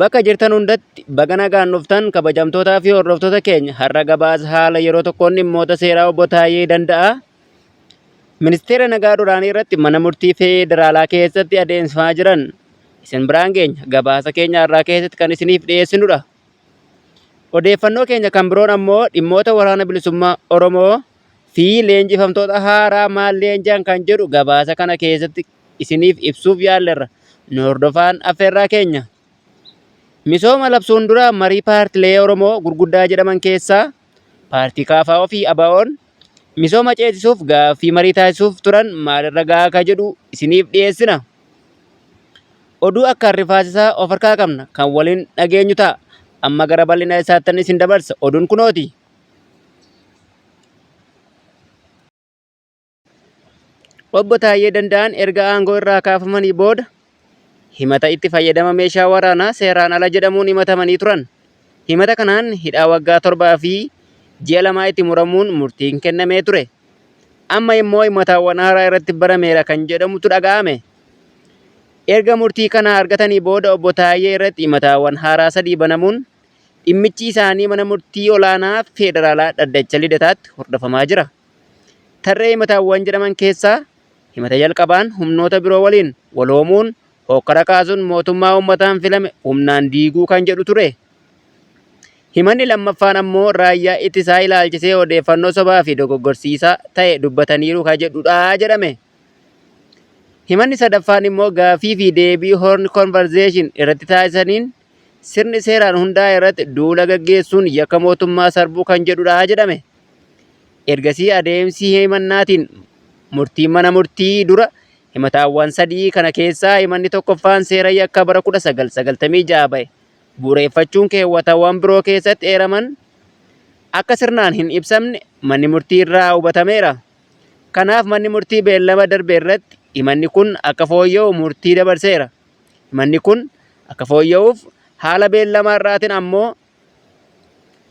Bakka jirtan hundatti baga nagaan dhuftan kabajamtootaa fi hordoftoota keenya har'a gabaasa haala yeroo tokkoon dhimmoota seeraa obbo Taayee Danda'aa ministeera nagaa duraanii irratti mana murtii federaalaa keessatti adeemsifamaa jiran isin biraan geenya gabaasa keenya har'aa keessatti kan isiniif dhiyeessinudha. Odeeffannoo keenya kan biroon ammoo dhimmoota waraana bilisummaa Oromoo fi leenjifamtoota haaraa maal leenji'an kan jedhu gabaasa kana keessatti isiniif ibsuuf yaallerra. Nu hordofaan affeerraa keenya. Misooma labsuun dura marii paartilee Oromoo gurguddaa jedhaman keessaa paartii KFO fi ABOn misooma ceesisuuf gaaffii marii taasisuuf turan maalirra gahaa akka jedhu isiniif dhiyeessina. Oduu akkaan rifaasisaa of harkaa qabna kan waliin dhageenyu ta'a. Amma gara bal'ina isaattan isin dabarsa. Oduun kunooti. Obbo Taayyee Danda'aan erga aangoo irraa kaafamanii booda himata itti fayyadama meeshaa waraanaa seeraan ala jedhamuun himatamanii turan. Himata kanaan hidhaa waggaa torbaa fi ji'a lamaa itti muramuun murtiin kennamee ture. Amma immoo himataawwan haaraa irratti barameera kan jedhamutu dhaga'ame. Erga murtii kana argatanii booda obbo Taayyee irratti himataawwan haaraa sadii banamuun dhimmichi isaanii mana murtii olaanaa federaalaa dhaddacha lidataatti hordofamaa jira. Tarree himataawwan jedhaman keessaa himata jalqabaan humnoota biroo waliin waloomuun hookkara kaasuun mootummaa uummataan filame humnaan diiguu kan jedhu ture. Himanni lammaffaan ammoo raayyaa ittisaa ilaalchisee odeeffannoo sobaa fi dogoggorsiisaa ta'e dubbataniiru kan jedhudha jedhame. Himanni sadaffaan immoo gaaffii fi deebii Horn Conversation irratti taasisaniin Sirni seeraan hundaa'e irratti duula gaggeessuun yakka mootummaa sarbuu kan jedhudha jedhame. Ergasii adeemsi himannaatiin murtiin mana murtii dura himataawwan sadii kana keessaa himanni tokkoffaan seera yakka bara 1996 ba'e bu'ureeffachuun keewwatawwan biroo keessatti eeraman akka sirnaan hin ibsamne manni murtii irraa hubatameera. Kanaaf manni murtii beellama darbe irratti himanni kun akka fooyya'u murtii dabarseera. Manni kun akka fooyya'uuf haala beellama har'aatin ammoo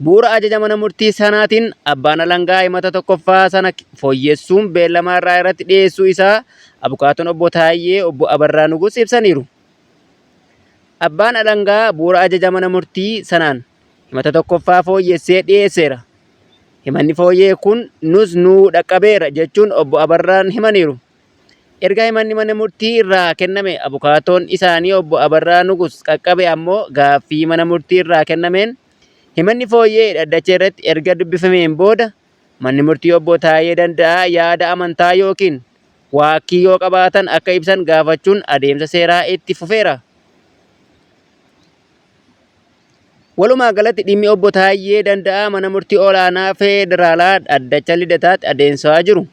bu'ura ajaja mana murtii sanaatin abbaan alangaa himata 1ffaa sana fooyyessuun beellama har'aa irratti dhiyeessuu isaa abukaatoon obbo Taayyee obbo Abarraa Nugus ibsaniiru. Abbaan alangaa bu'ura ajaja mana murtii sanaan himata 1ffaa fooyyessee dhiyeesseera. Himanni fooyya'e kun nus nuu dhaqqabeera jechuun obbo Abarraan himaniiru. Erga himanni mana murtii irraa kenname abukaatoon isaanii obbo Abarraa Nugus qaqqabe ammoo gaaffii mana murtii irraa kennameen himanni fooyya'e dhaddacha irratti erga dubbifameen booda manni murtii obbo Taayee Danda'aa yaada amantaa ykn waakkii yoo qabaatan akka ibsan gaafachuun adeemsa seeraa itti fufeera. Walumaa galatti dhimmi obbo Taayyee Danda'aa mana murtii olaanaa federaalaa dhaddacha Lidataatti adeemsifamaa jiru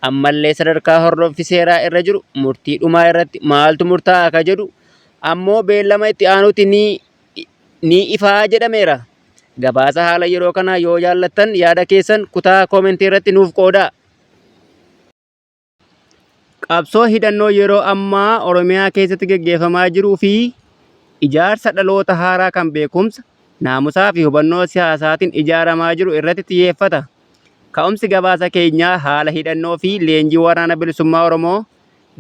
ammallee sadarkaa hordoffi seeraa irra jiru murtii dhumaa irratti maaltu murtaa'a akka jedhu ammoo beellama itti aanutti ni, ni ifaa jedhameera. Gabaasa haala yeroo kanaa yoo jaallattan yaada keessan kutaa koomentii irratti nuuf qoodaa. Qabsoo hidhannoo yeroo ammaa Oromiyaa keessatti geggeeffamaa jiruu fi ijaarsa dhaloota haaraa kan beekumsa, naamusaa fi hubannoo siyaasaatiin ijaaramaa jiru irratti xiyyeeffata. Ka'umsi gabaasa keenyaa haala hidhannoo fi leenjii Waraana Bilisummaa Oromoo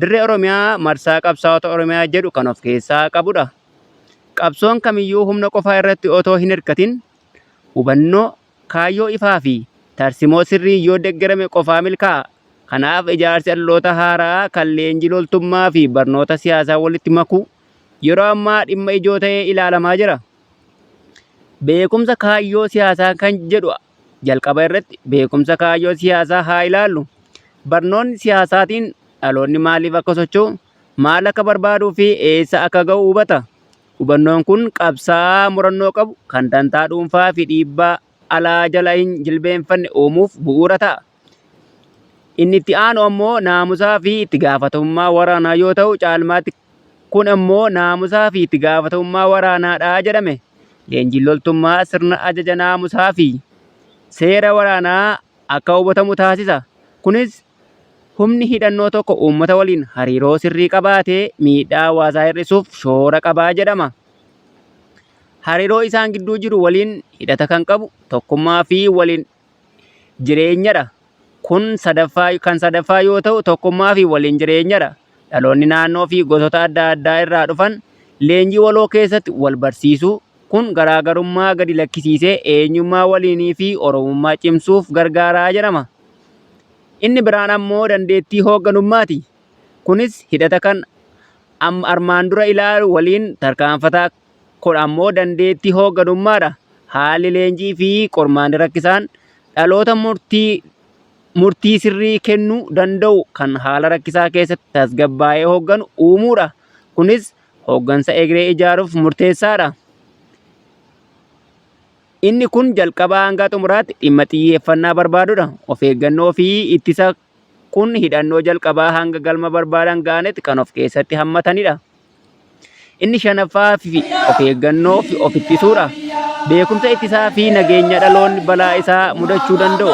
Dirree Oromiyaa Marsaa Qabsaa'ota Oromiyaa jedhu kan of keessaa qabudha. Qabsoon kamiyyuu humna qofaa irratti otoo hin hirkatin hubannoo, Kaayyoo ifaa fi tarsimoo sirriin yoo deggerame qofaa milkaa'a. Kanaaf ijaarsi adloota haara'aa kan leenjii loltummaa fi barnoota siyaasaa walitti makuu yeroo ammaa dhimma ijoo ta'ee ilaalamaa jira. Beekumsa kaayyoo siyaasaa kan jedhu jalqaba irratti beekumsa kaayyoo siyaasaa haa ilaallu. Barnoonni siyaasaatiin dhaloonni maaliif akka socho'u, maal akka barbaaduu fi eessa akka ga'u hubata. Hubannoon kun qabsaa'aa murannoo qabu, kan dantaa dhuunfaa fi dhiibbaa alaa jala hin jilbeenfanne uumuuf bu'uura ta'a. Inni itti aanu ammoo naamusaa fi itti gaafatamummaa waraanaa yoo ta'u, caalmaatti kun ammoo naamusaa fi itti gaafatamummaa waraanaa dha jedhame. Leenjiin loltummaa sirna ajaja naamusaa fi seera waraanaa akka hubatamu taasisa. Kunis Humni hidhannoo tokko uummata waliin hariiroo sirrii qabaatee miidhaa hawaasaa hir'isuuf shoora qaba jedhama. Hariiroo isaan gidduu jiru waliin hidhata kan qabu tokkummaa fi waliin jireenyadha. Kun sadaffaa kan sadaffaa yoo ta'u tokkummaa fi waliin jireenyadha. Dhaloonni naannoo fi gosoota adda addaa irraa dhufan leenjii waloo keessatti wal barsiisu. Kun garaagarummaa gadi lakkisiisee eenyummaa waliinii fi Oromummaa cimsuuf gargaara jedhama. Inni biraan ammoo dandeettii hoogganummaati. Kunis hidhata kan armaan dura ilaalu waliin tarkaanfataa kun ammoo dandeettii hoogganummaadha. Haalli leenjii fi qormaanni rakkisaan dhaloota murtii murtii sirrii kennuu danda'u kan haala rakkisaa keessatti tasgabbaa'ee hoogganu uumuudha. Kunis hooggansa egeree ijaaruuf murteessaadha. Inni kun jalqabaa hangaa xumuraatti dhimma xiyyeeffannaa barbaadudha. Of eeggannoo fi ittisa kun hidhannoo jalqabaa hanga galma barbaadan ga'anitti kan of keessatti hammatanidha. Inni shanaffaa fi of eeggannoo fi of ittisuudha. Beekumsa ittisaa fi nageenya dhaloonni balaa isaa mudachuu danda'u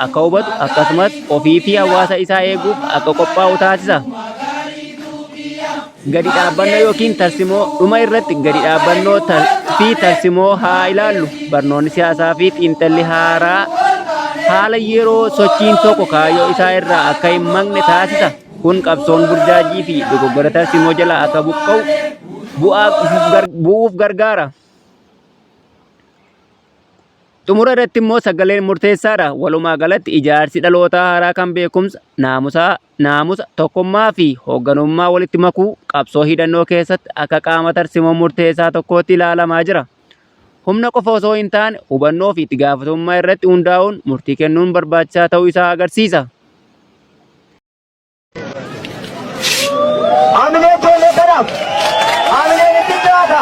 akka hubatu akkasumas ofii fi hawaasa isaa eeguuf akka qophaa'u taasisa. Gadi dhaabbannoo yookiin tarsimoo dhuma irratti gadi dhaabbannoo fi tarsimoo haa ilaallu. Barnoonni siyaasaa fi xiinxalli haaraa haala yeroo sochiin tokko kaayyoo isaa irraa akka hin maqne taasisa. Kun qabsoon burjaajii fi dogoggora tarsimoo jalaa akka buqqa'u bu'aa bu'uuf gargaara. Xumura irratti immoo sagaleen murteessaadha. Walumaa galatti ijaarsi dhalootaa haaraa kan beekumsa, naamusaa, naamusa, tokkummaa fi hoogganummaa walitti makuu qabsoo hidhannoo keessatti akka qaama tarsimoo murteessaa tokkootti ilaalamaa jira. Humna qofa osoo hin taane hubannoo fi itti gaafatamummaa irratti hundaa'uun murtii kennuun barbaachisaa ta'uu isaa agarsiisa. Hamilee keenya kanaaf hamileen itti jiraata.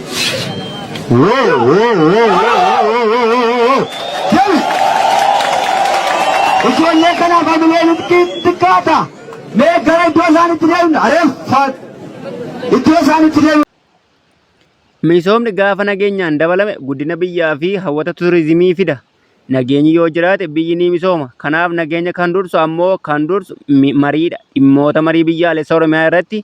Ijoollee kanaaf hamilee nutti xiqqaata. Mee gara iddoo isaan itti deemna. Areeffaat. Iddoo isaan itti deemna. Misoomni gaafa nageenyaan dabalame guddina biyyaa fi hawwata turizimii fida. Nageenyi yoo jiraate biyyi ni misooma. Kanaaf nageenya kan dursu ammoo kan dursu mariidha. Dhimmoota marii biyyaalessa Oromiyaa irratti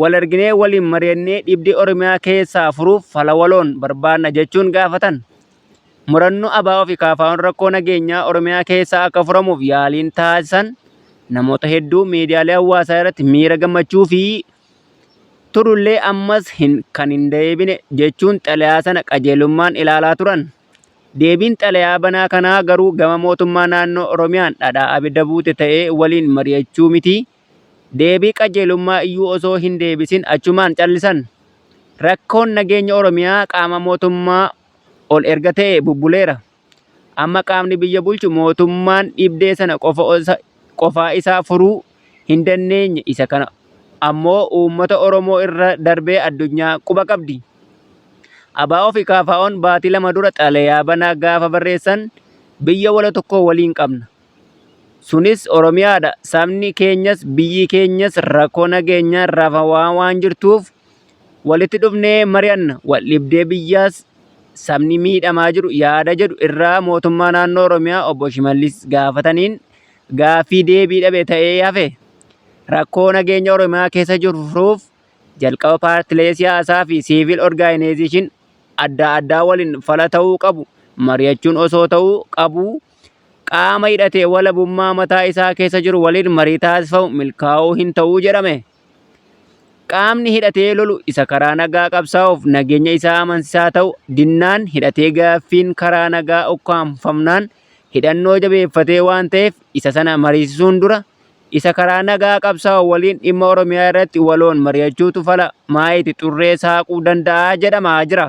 Wal arginee waliin mari'annee dhibdee Oromiyaa keessaa furuuf fala waloon barbaadna jechuun gaafatan. Murannoo ABO fi KFO'n rakkoo nageenyaa Oromiyaa keessaa akka furamuuf yaaliin taasisan namoota hedduu miidiyaalee hawaasaa irratti miira gammachuu fi turullee ammas hin kan hin deebine jechuun xalayaa sana qajeelummaan ilaalaa turan. Deebiin xalayaa banaa kanaa garuu gama mootummaa naannoo Oromiyaan dhadhaa abidda buute ta'ee waliin mari'achuu miti Deebii qajeelummaa iyyuu osoo hin deebisin achumaan callisan. Rakkoon nageenya Oromiyaa qaama mootummaa ol erga ta'ee bubbuleera. Amma qaamni biyya bulchu mootummaan dhibdee sana qofaa isaa furuu hin dandeenye isa kana ammoo uummata Oromoo irra darbee addunyaa quba qabdi. ABO fi KFOn baatii lama dura xalayaa banaa gaafa barreessan biyya walo tokko waliin qabna. Sunis Oromiyaa dha. Sabni keenyas biyyi keenyas rakkoo nageenyaan rafaa waan jirtuuf walitti dhufnee mari'anna. Waldhibdee biyyaas sabni miidhamaa jiru yaada jedhu irraa mootummaa naannoo Oromiyaa obbo Shimallis gaafataniin gaaffii deebii dhabe ta'ee hafe. Rakkoo nageenya Oromiyaa keessa jiru furuuf jalqaba paartilee siyaasaa fi siivil orgaanayizeeshin adda addaa waliin fala ta'uu qabu mari'achuun osoo ta'uu qabuu qaama hidhatee walabummaa mataa isaa keessa jiru waliin marii taasifamu milkaa'uu hin ta'uu jedhame. Qaamni hidhatee lolu isa karaa nagaa qabsaa'uuf nageenya isaa amansisaa ta'u dinnaan hidhatee gaaffiin karaa nagaa ukkaamfamnaan hidhannoo jabeeffatee waan ta'eef isa sana mariisisuun dura isa karaa nagaa qabsaa'u waliin dhimma Oromiyaa irratti waloon mari'achuutu fala maayiiti xurree saaquu danda'a jedhamaa jira.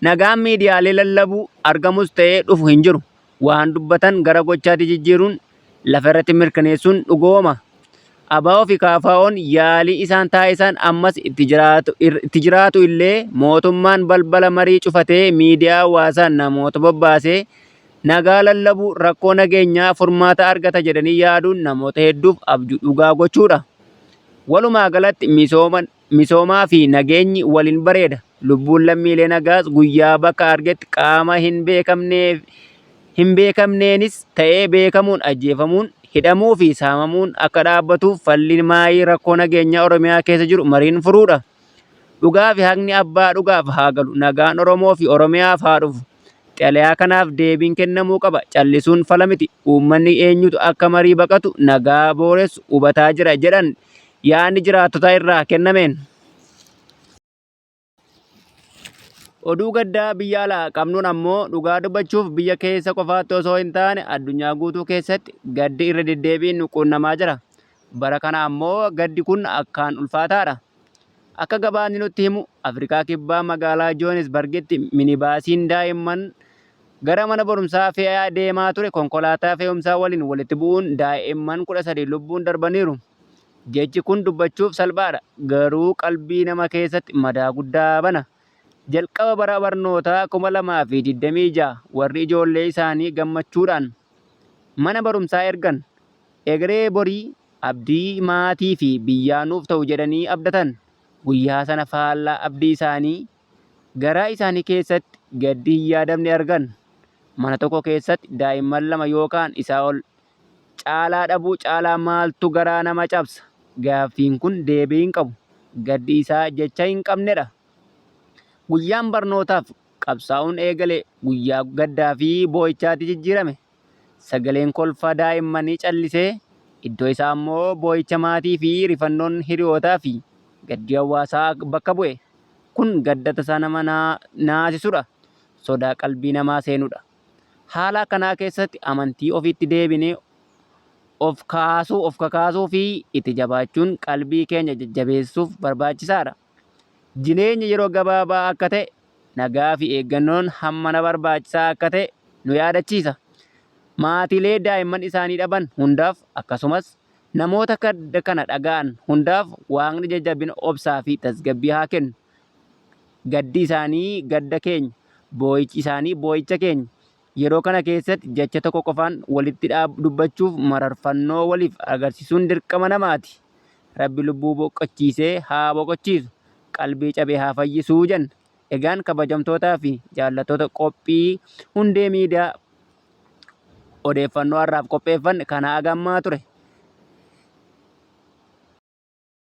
Nagaan miidiyaalee lallabuu argamus ta'ee dhufu hin jiru. Waan dubbatan gara gochaatti jijjiiruun lafa irratti mirkaneessuun dhugooma. ABO fi KFOn yaalii isaan taasisan ammas itti jiraatu illee mootummaan balbala marii cufatee miidiyaa hawaasaa namoota bobbaasee nagaa lallabuu rakkoo nageenyaa furmaata argata jedhanii yaaduun namoota hedduuf abjuu dhugaa gochuudha. Walumaa galatti misooma Misoomaa fi nageenyi waliin bareeda. Lubbuun lammiilee nagaas guyyaa bakka argetti qaama hin beekamnee fi hin beekamneenis ta'ee beekamuun ajjeefamuun, hidhamuu fi saamamuun akka dhaabbatuuf falli maayii rakkoo nageenyaa Oromiyaa keessa jiru mariin furuudha. Dhugaa fi haqni abbaa dhugaaf haa galu. Nagaan Oromoo fi Oromiyaaf haa dhufu. Xalayaa kanaaf deebiin kennamuu qaba. Callisuun fala miti. Uummanni eenyutu akka marii baqatu nagaa booressu hubataa jira jedhan yaadni jiraattota irraa kennameen. Oduu gaddaa biyya alaa qabnuun ammoo dhugaa dubbachuuf biyya keessa qofaatti osoo hin taane addunyaa guutuu keessatti gaddi irra deddeebiin nu quunnamaa jira. Bara kana ammoo gaddi kun akkaan ulfaataadha. Akka gabaasni nutti himu Afrikaa Kibbaa magaalaa Joohanisbargitti minibaasiin daa'imman gara mana barumsaa fe'aa deemaa ture konkolaataa fe'umsaa waliin walitti bu'uun daa'imman 13 lubbuun darbaniiru. Jechi kun dubbachuuf salphaadha, garuu qalbii nama keessatti madaa guddaa bana. Jalqaba bara barnootaa 2026 warri ijoollee isaanii gammachuudhaan. Mana barumsaa ergan. Egeree borii, abdii maatii fi biyyaa nuuf ta'u jedhanii abdatan. Guyyaa sana faallaa abdii isaanii, garaa isaanii keessatti gaddi hin yaadamne argan. Mana tokko keessatti daa'imman lama yookaan isaa ol caalaa dhabuu caalaa maaltu garaa nama cabsa? Gaaffiin kun deebii hin qabu. Gaddi isaa jecha hin qabnedha. Guyyaan barnootaaf qabsaa'uun eegale guyyaa gaddaa fi boo'ichaatti jijjiirame. Sagaleen kolfa daa'immanii callisee, iddoo isaa ammoo boo'icha maatii fi rifannoon hiriyootaa fi gaddi hawaasaa bakka bu'e. Kun gadda tasaa nama naasisudha. Sodaa qalbii namaa seenudha. Haala akkanaa keessatti amantii ofiitti deebinee of kaasuu, of kakaasuu fi itti jabaachuun qalbii keenya jajjabeessuuf barbaachisaadha. jireenya yeroo gabaabaa akka ta'e, nagaafi eeggannoon hammana barbaachisaa akka ta'e nu yaadachiisa. Maatiilee daa'imman isaanii dhaban hundaaf, akkasumas namoota gadda kana dhaga'an hundaaf Waaqni jajjabina, obsaafi tasgabbii haa kennu. Gaddi isaanii gadda keenya, boo'ichi isaanii boo'icha keenya, Yeroo kana keessatti jecha tokko qofaan walitti dubbachuuf mararfannoo waliif agarsiisuun dirqama namaati. Rabbi lubbuu boqochiisee haa boqochiisu, qalbii cabe haa fayyisu jenna. Egaan kabajamtootaa fi jaallattoota qophii Hundee Miidiyaa odeeffannoo har'aaf qopheeffanne kanaa gammaa ture.